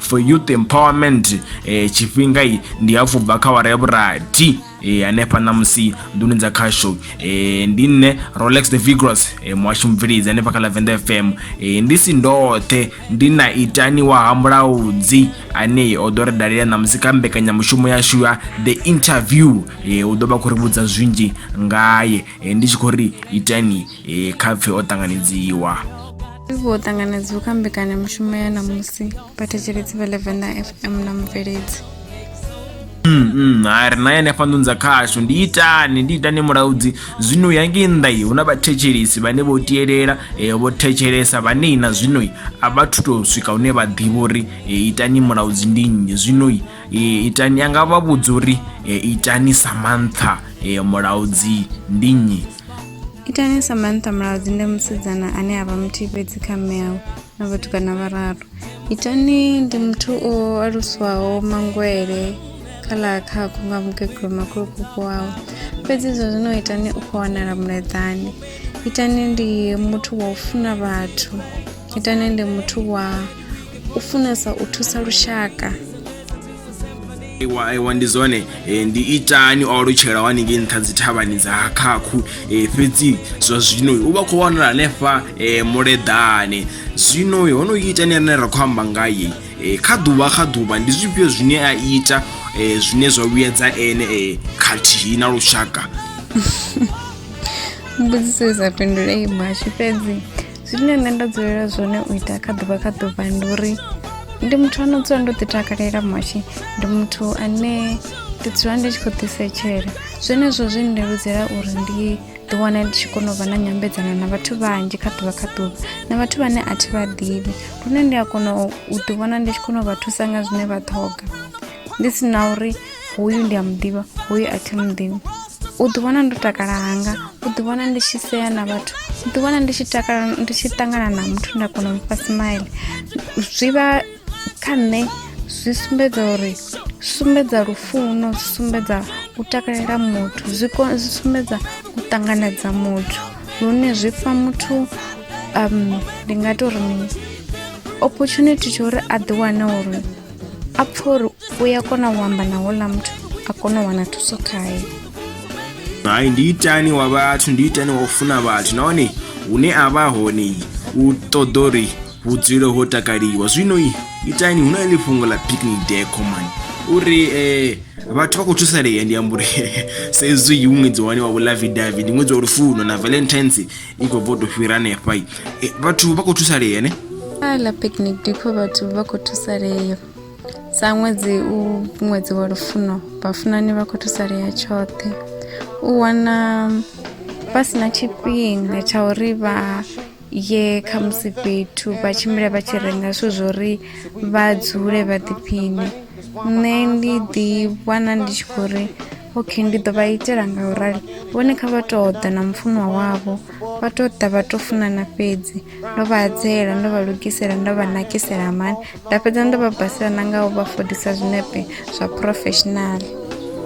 for youth empowerment eh, tshifhinga i ndi hafhu bva kha wara ya vhurathi eh, hanefha ṋamusi nduni dza khasho eh, ndi nne rolex the vigros eh, muhasho mubveledzi hanefha kha lavenda fm eh, ndi si ndoṱhe ndi na itani wa ha mulaudzi ane o ḓo ri dalela ṋamusi kha mbekanyamushumo yashu ya the interview eh, u ḓo vha khou ri vhudza zwinzhi ngaye eh, ndi tshi khou ri itani e kha pfe o ṱanganedziwa vho ṱanganedziwa kha mbekanyamushumo ya ṋamusi vhathetsheledzi vha levenda fm na mubveledzi Mm, mm, ha ri na yene fhanḓunza khashu ndi itani ndi itani mulaudzi zwino ya ngei nnḓa iyi hu na vhathetshelesi vhane vho tielela e, vho thetshelesa vhanei na zwinoi a vha thu tou swika hune vha ḓivha uri e, itani mulaudzi ndi nnyi zwinoi e, itani anga vha vhudza uri e, itani samantha e, mulaudzi ndi nnyi itani samantha mulaudzi ndi musidzana ane a vha muthihi fhedzi kha mme awe na vhatukana vhararu itani ndi muthu o aluswaho mangwele kha ḽa khakho nga mukegulu makhulukuku wawe fhedzi izwo zwino itani u khou wanala muleḓani itani ndi muthu wa u funa vhathu itani ndi muthu wa u funesa u thusa lushaka iwa ndi zwone e, ndi itani o alutshela wani ngei nṱha dzi thavhani dza khakhu e, fhedzi zwa zwino u vha khou wanala hanefha e, muleḓane zwino ho no itani rine ra khou amba ngaye kha ḓuvha kha ḓuvha ndi zwifhio zwine a ita zwine zwa vhuyedza ene khathihi na lushaka mbudziso i sa fhindulei mhashu fhedzi zwine nṋe nda dzulela zwone u ita kha ḓuvha kha ḓuvha ndi uri ndi muthu ano dzula ndo ḓi takalela mashi ndi muthu ane ndi dzula ndi tshi khou ḓisetshela zwenezwo zwi ndeludzela uri ndi ḓi wana ndi tshi kona u vha na nyambedzano na vhathu vhanzhi kha ḓuvha kha ḓuvha na vhathu vhane a thi vha ḓivhi lune ndi a kona u ḓi wana ndi tshi kona u vha thusa nga zwine vha ṱhoga ndi si na uri hoyu ndi a mu ḓivha hoyu a thi mu ḓivhi u ḓiwana ndo takala hanga u ḓiwana ndi tshi sea na vhathu u ḓiwana ndi tshi takala ndi tshi ṱangana na muthu nda kona u mufha smile zwi vha kha nṋe zwi sumbedza uri sumbedza lufuno zwi sumbedza u takalela muthu zwi sumbedza u ṱanganedza muthu lune zwi fha muthu um ndi nga tou ri mini opportunity tsho uri a ḓiwane uri a pfha uri u ya kona u amba na houḽa muthu a kona u wana thuso khaye hai ndi itani wa vhathu ndi itani wa u funa vhathu nahone hune a vha hone u ṱoḓa uri vhudzule ho takaliwa zwino itani hu na ḽi fhungo ḽa picnic day common uri eh vhathu vha khou thusalea ndi amba uri saizwi hu ṅwedzi wani wa vhulavi davi ndi ṅwedzi wa lufuno na valentines i khou bvo to fhira hanefha i eh, vhathu vha khou thusalea ne ala picnic depot vhathu vha khou thusalea sa ṅwedzi u ṅwedzi wa lufuno vhafunani vha khou thusalea tshoṱhe u wana vha si na tshifhinga tsha uri vha ye kha musi fhethu vha tshimbile vha tshi renga zwithu zwo uri vha dzule vha ḓiphiṋe nṋe ndi ḓi wana ndi tshi khou ri ok ndi ḓo vha itela nga u rali vhone kha vha tou ḓa na mufunwa wavho vha tou ḓa vha tou funana fhedzi ndo vha adzela ndo vha lugisela ndo vha nakisela mani nda fhedza ndo vha basela na nga u vha fodisa zwinepe zwa professional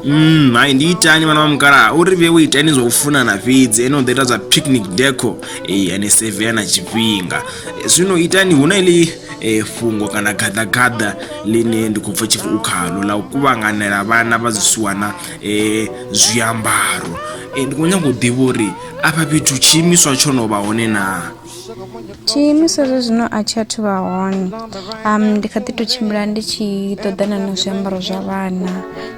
Mm, hai ndi itani vhana vha mukalaha uri vhe wo itani zwa u funana fhedzi ene u ḓo ita zwa picnic deco ee ane sevea na tshifhinga zwino itani hu na ili e fhungo kana gaḓagaḓa ḽine ndi khou pfha tshipfi u khalo ḽa u kuvhanganela vhana vha zwisiwana um zwiambaro um ndi khou nyanga u ḓivha uri afha fhethu tshiimiswa tsho no vha hone naa tshiimiswa zwa zwino a tshi athu vha hone um ndi kha ḓi tou tshimbila ndi tshi ṱoḓana na zwiambaro zwa vhana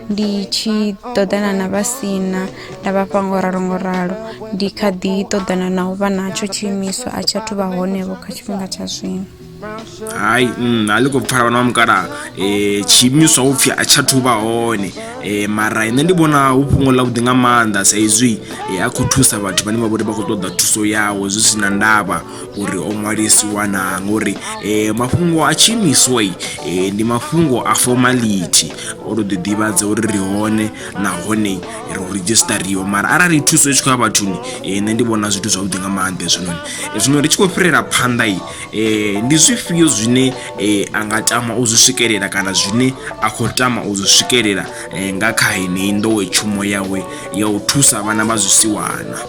ndi tshi ṱoḓana na vha sina Nda vha fha ngo ralo ngo ralo ndi kha ḓi ṱoḓana na u vha natsho tshiimiswa a tshi athu vha honevho kha tshifhinga tsha zwino hai mm, a ḽi khou pfala vhana vha mukalaha um tshiimiswa upfhi a tsha thuvha hone um mara nṋe ndi vhona hu fhungo ḽa vhuḓi nga maanḓa sa izwi um a khou thusa vhathu vhane vha vhori vha khou ṱoḓa thuso yawe zwi si na ndavha uri o ṅwalisiwa na ngori um mafhungo a tshiimiswa um ndi mafhungo a formality o to ḓi ḓivhadza uri ri hone nahone ro redzhistariwa mara arali thuso i tshi khou ya vhathuni eh, nṋe ndi vhona zwithu zwavhuḓi nga maanḓa hezwinoni eh, zwino ri tshi khou fhirela phanḓa i eh, ndi zwifhio zwine a nga tama u zwi swikelela kana zwine a khou tama u zwi swikelela nga kha heneyi nḓowetshumo yawe ya u thusa vhana vha zwisiwana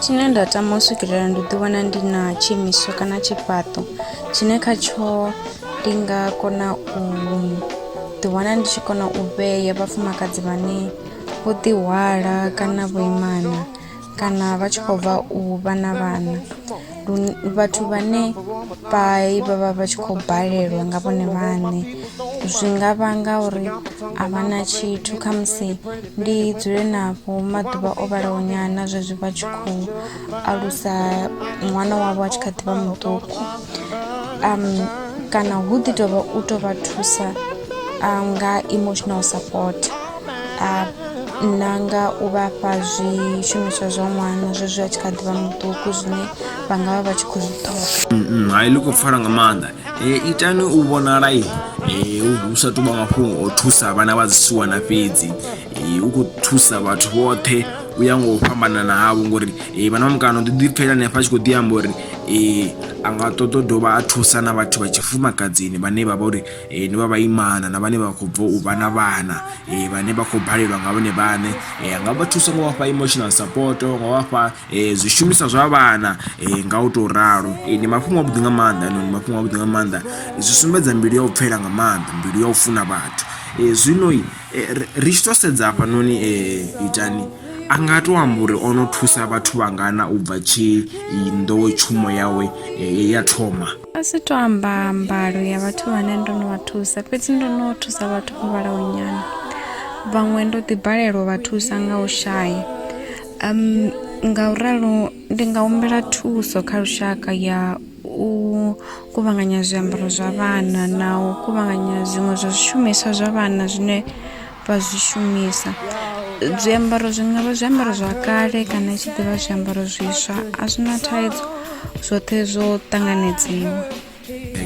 tshine nda tama u swikelela ndi ḓiwana ndi na tshiimiswa kana tshifhaṱo tshine kha tsho ndi nga kona u ḓiwana ndi tshi kona u vhea vhafumakadzi vhane vho ḓihwala kana vho imana kana vha tshi khou bva u vha na vhana vhathu vhane vha vha vha vha tshi khou balelwa nga vhone vhaṋe zwi nga vhanga uri a vha na tshithu kha musi ndi dzule navho maḓuvha o vhalaho nyana zwezwi vha tshi khou alusa ṅwana wavho a tshi kha ḓi vha muṱuku. um kana hu ḓi tovha u to vha thusa um, nga emotional support uh, na nga u vha fha zwishumiswa zwa ṅwana zwezwi a tshi kha ḓivha muṱuku zwine vha nga vha vha tshi khou zwi ṱhoga mm, mm, hai ḽi khou pfala nga maanḓa e, itani u vhonala i e, hu sa tuvha mafhungo o thusa vhana vha dzisiwana fhedzi e, u khou thusa vhathu vhoṱhe u ya ngo u fhambanana havho ngori vhana vha mukano ḓi ḓipfela hanefha a tshi khou ḓi amba uri a nga ṱoḓa u dovha a thusa na vhathu vha tshifumakadzini vhane vha vha uri ndi vha vhaimana na vhane vha khou bva u vha na vhana vhane vha khou balelwa nga vhone vhaṋe. A nga vha thusa nga u vha fha emotional support, nga u vha fha zwishumiswa zwa vhana nga u tou ralo. Ndi mafhungo avhuḓi nga maanḓa hainoni, ndi mafhungo avhuḓi nga maanḓa, zwi sumbedza mbilu ya u pfela nga maanḓa, mbilu ya u funa vhathu zwino. eh, ri tshi to sedza hafha noni eh, itani a nga to amba uri o no thusa vhathu vhangana u bva tshi nḓowetshumo yawe eh, ya thoma a si to amba mbalo ya vhathu vhane ndo no vha thusa fhedzi ndo no thusa vhathu vho vhalaho nyana vhaṅwe ndo ḓibalelwa vha thusa nga u shaya um nga u ralo ndi nga humbela thuso kha lushaka ya u kuvhanganya zwiambaro zwa vhana na u kuvhanganya zwiṅwe zwa zwishumiswa zwa vhana zwine vha zwi shumisa zwiambaro zwi ngavha zwiambaro zwa kale kana i tshi ḓivha zwiambaro zwiswa a zwi na thaidzo zwoṱhe zwo ṱanganedziwa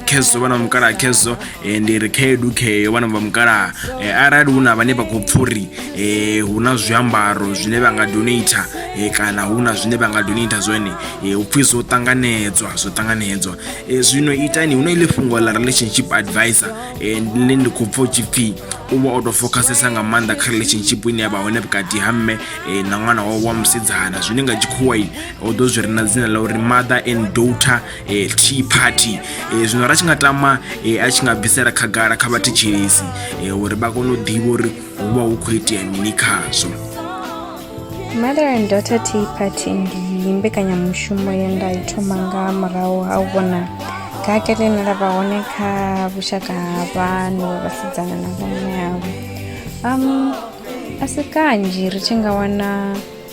khezwo vha na mukala khezwo ndi ri khaedu kheyo vhana vha mukalaha eh, arali hu na vhane vha khou pfha uri eh, hu na zwiambaro zwine vha nga donata eh, kana hu na zwine vha nga donata zwone hu pfhi zwo ṱanganedzwa zwo ṱanganedzwa zwino itani hu na ile fhungo ḽa relationship advisor ḽine ndi khou pfha u tshi pfhi u vha o tou fokhasesa nga maanḓa kha relationship ine ya vha hone vhukati ha mme eh, na ṅwana wawe wa musidzana zwine nga tshikhuwai o ḓo zwi re na dzina ḽa uri mother and daughter e, tea party e, zwino ra tshi nga tama e, a tshi nga bvisela khagala kha vhathetshelesi e, uri vha kone u ḓivha uri hu vha hu khou itea mini khazwo mother and daughter tea party ndi mbekanyamushumo ye nda i thoma nga murahu ha u vhona gake ḽine ḽa vha hone kha vhushaka ha vhanu vha vhasidzana na vhomme avho um a si kanzhi ri tshi nga wana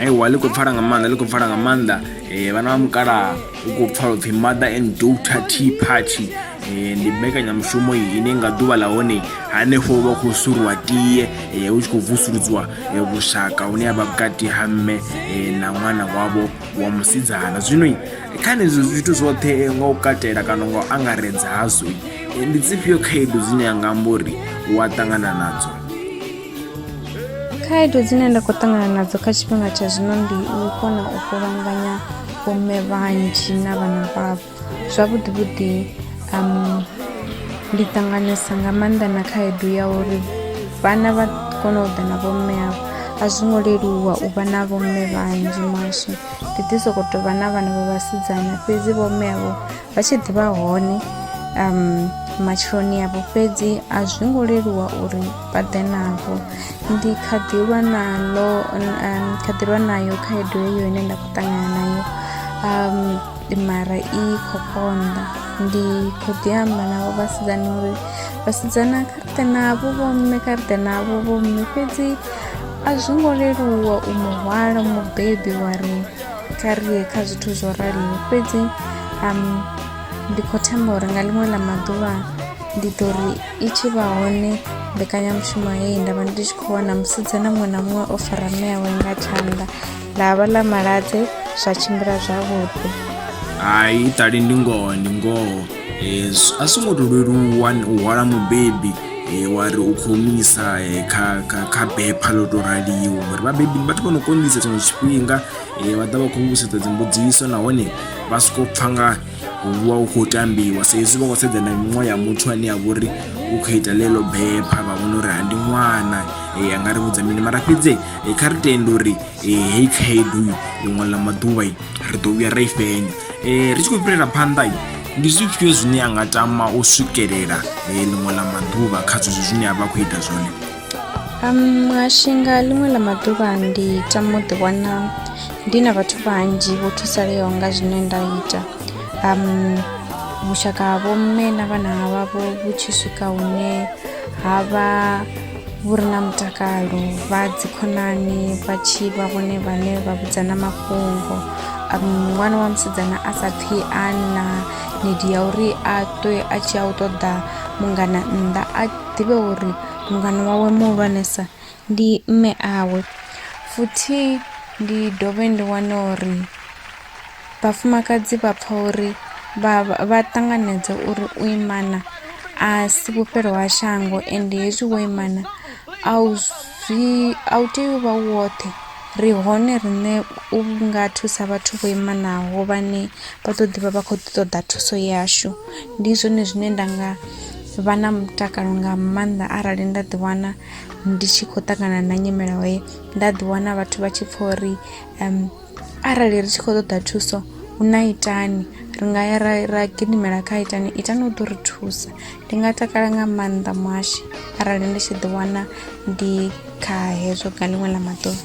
aiwa ḽi khou pfala nga maanḓa ḽi khou pfala nga maanḓa um vhana vha mukalaha u khou pfala upfhi mother and daughter t party um ndi mbekanyamushumo ine nga ḓuvha ḽa hone hanefho vha khou suruwa tie um hu tshi khou vusuludzwa vhushaka hune avha vhukati ha mme na ṅwana wavho wa musidzana zwino kha nezo zwithu zwoṱhe nga u katela kana nga u angaredza hazwo ndi dzifhio khaedu dzine ya nga amba uri u a ṱangana nadzo khaedu dzine nda khou ṱangana nadzo kha tshifhinga tsha zwino ndi u kona u kuvhanganya vhomme vhanzhi na vhana vhavho zwavhuḓi vhuḓi um ndi ṱanganesa nga maanḓa na khaedu ya uri vhana vha kona u ḓa na vhomme avho a zwi ngo leluwa u vha na vhomme vhanzhi maswe ndi ḓi sokou tou vha na vhana vha vhasidzana fhedzi vhomme avho vha tshi ḓivha hone um matshiloni avho fhedzi a zwi ngo leluwa uri vha ḓe navho ndi kha ḓi lwa naḽo um, kha ḓi lwa nayo khaedu heyo ine nda khou ṱangana nayo um, mara i khou konḓa ndi khou ḓi amba navho vhasidzana uri vhasidzana kha ri ḓe navho vhomme kha ri ḓe navho vhomme fhedzi a zwi ngo leluwa u muhwala mubebi wa ri kha ri ye kha zwithu zwo raliho fhedzi um, ndi khou themba uri nga ḽiṅwe ḽa maḓuvha ndi ḓo ri i tshi vha hone mbekanyamushumo heyi nda vha ndi tshi khou wana musidzana muṅwe na muṅwe o fara mme yawe nga tshanḓa ḽa vha ḽa maladze zwa tshimbila zwavhuḓi hai ṱali ndi ngoho ndi ngoho Eh, s- a songo to leluwa n- u hwala mubebi eh, wa ri u khou misa eh, kha kha- kha bepha ḽo to raliho ngori vhabebi ndi vhathu vho no konḓisa tshiṅwe tshifhinga eh, vha ḓa vha khou vhusedza dzimbudziso nahone vha soko pfa nga Hu vha hu khou tambiwa sa hezwi vha khou sedza na miṅwaha ya muthu ane a vha uri u khou ita ḽeḽo bepha vha vhona uri ha ndi ṅwana a nga ri vhudza mini mara fhedzi kha ri tende uri heyi khaedu ḽiṅwe ḽa maḓuvha ri ḓo vhuya ra i fhenya ri tshi khou fhirela phanḓa ndi zwifhio zwine a nga tama u swikelela ḽiṅwe ḽa maḓuvha kha zwezwo zwine a vha a khou ita zwone. Um, muhashi nga ḽiṅwe ḽa maḓuvha ndi tama u ḓiwana ndi na vhathu vhanzhi vho thusaleaho nga zwine nda ita um, vhushaka ha vhomme na vhana vhavho vhu tshi swika hune ha vha vhu re na mutakalo vha dzikhonani vha tshi vha vhone vhane vha vhudzana mafhungo um, ṅwana wa musidzana a sa pfhi a na nidi ya uri a ṱwe a tshi a u ṱoḓa mungana nnḓa a ḓivhe uri mungana wawe muhulwanesa ndi mme awe. Futhi ndi dovhe ndi wane uri vhafumakadzi vha pfa uri vha vha ṱanganedza uri u imana a si vhufhelo ha shango ende hezwi wo imana a u zwi a u tei u vha u woṱhe Ri hone riṋe u nga thusa vhathu vho imanaho vhane vha ḓo ḓivha vha kho ḓi ṱoḓa thuso yashu ndi zwone zwine nda nga vha na mutakalo nga maanḓa arali nda ḓi wana ndi tshi khou ṱangana na nyimele he nda ḓi wana vhathu vha tshi pfha uri arali ri tshi khou ṱoḓa thuso hu na itani ri nga ya ra ra gidimela kha itani itani u ḓo ri thusa. Ndi nga takala nga maanḓa muhashi arali ndi tshi ḓi wana ndi kha hezwo nga ḽiṅwe ḽa maḓuvha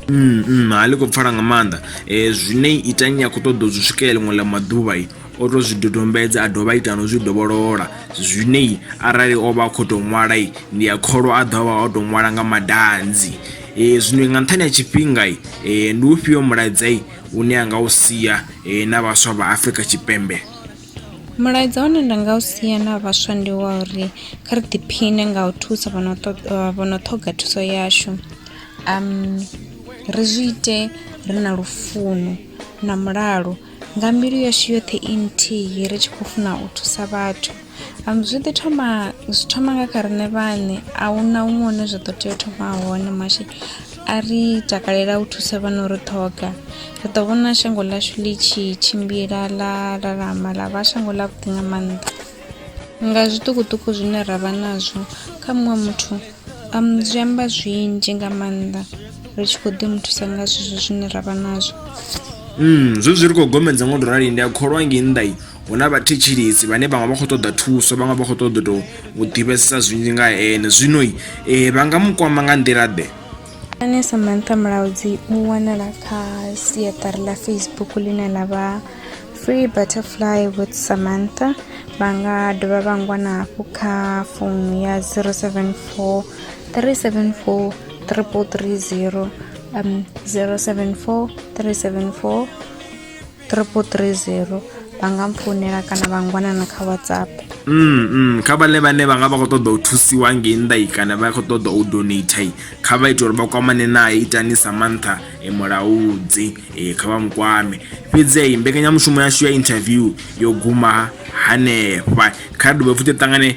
mm, mm, ha ḽi khou pfala nga maanḓa um zwine itanyi a khou ṱoḓa u zwi swikelela ḽiṅwe ḽa maḓuvha o tou zwi dodombedza a dovha ita no zwi dovholola zwine arali o vha a khou tou ṅwala ndi a kholwa a ḓovha o tou ṅwala nga madanzi um zwino nga nṱhani ha tshifhinga um ndi ufhio mulaedzai une a nga u sia um na vhaswa vha afrika tshipembe Mulaedza une nda nga u sia na vhaswa ndi wa uri kha ri ḓiphiṋe nga u thusa vho no ṱoḓa vho no ṱhoga thuso yashu, ri zwi ite ri na lufuno na mulalo nga mbilu yashu yoṱhe i nthihi ri tshi khou funa u thusa vhathu. Zwi ḓi thoma zwi thoma nga kha riṋe vhaṋe ahuna huṅwe hune zwa ḓo tea u thoma hone mashi. A ri takalela u thusa vha no ri ṱhoga. Ri ḓo vhona shango ḽashu ḽi tshi tshimbila ḽa lalama ḽa vha shango ḽavhuḓi nga maanḓa. Nga zwiṱukuṱuku zwine ra vha nazwo kha muṅwe muthu um, zwi amba zwinzhi nga maanḓa ri tshi khou ḓi mu thusa nga zwezwo zwine ra vha nazwo. Mm, zwezwi ri khou gomedza ngo tou rali ndi a kholwa ngei nnḓa hu na vhathetshelesi vhane vhaṅwe vha khou ṱoḓa thuso vhaṅwe vha khou ṱoḓa tou u ḓivhesesa zwinzhi nga ene zwino um eh, vha nga mu kwama nga nḓila ḓe ane samantha mulaudzi u wanala kha siaṱari ḽa facebook ḽine ḽa vha free butterfly with samantha vha nga dovha vha ngwana hafhu kha founu ya 074 374 330 um 074 374 Triple three zero vha nga mpfounela kana vha ngwanana kha whatsapp mm, mm. kha vhane vhane vha nga vha khou ṱoḓa u thusiwa ngei nnḓa i kana vha khou ṱoḓa u donate kha vha ite uri vha kwamane naye itani sa mantha e mulaudzi e kha vha mukwame fhedzi i mbekanyamushumo yashu ya interview yo guma hanefha kha dovhe futhi ṱangane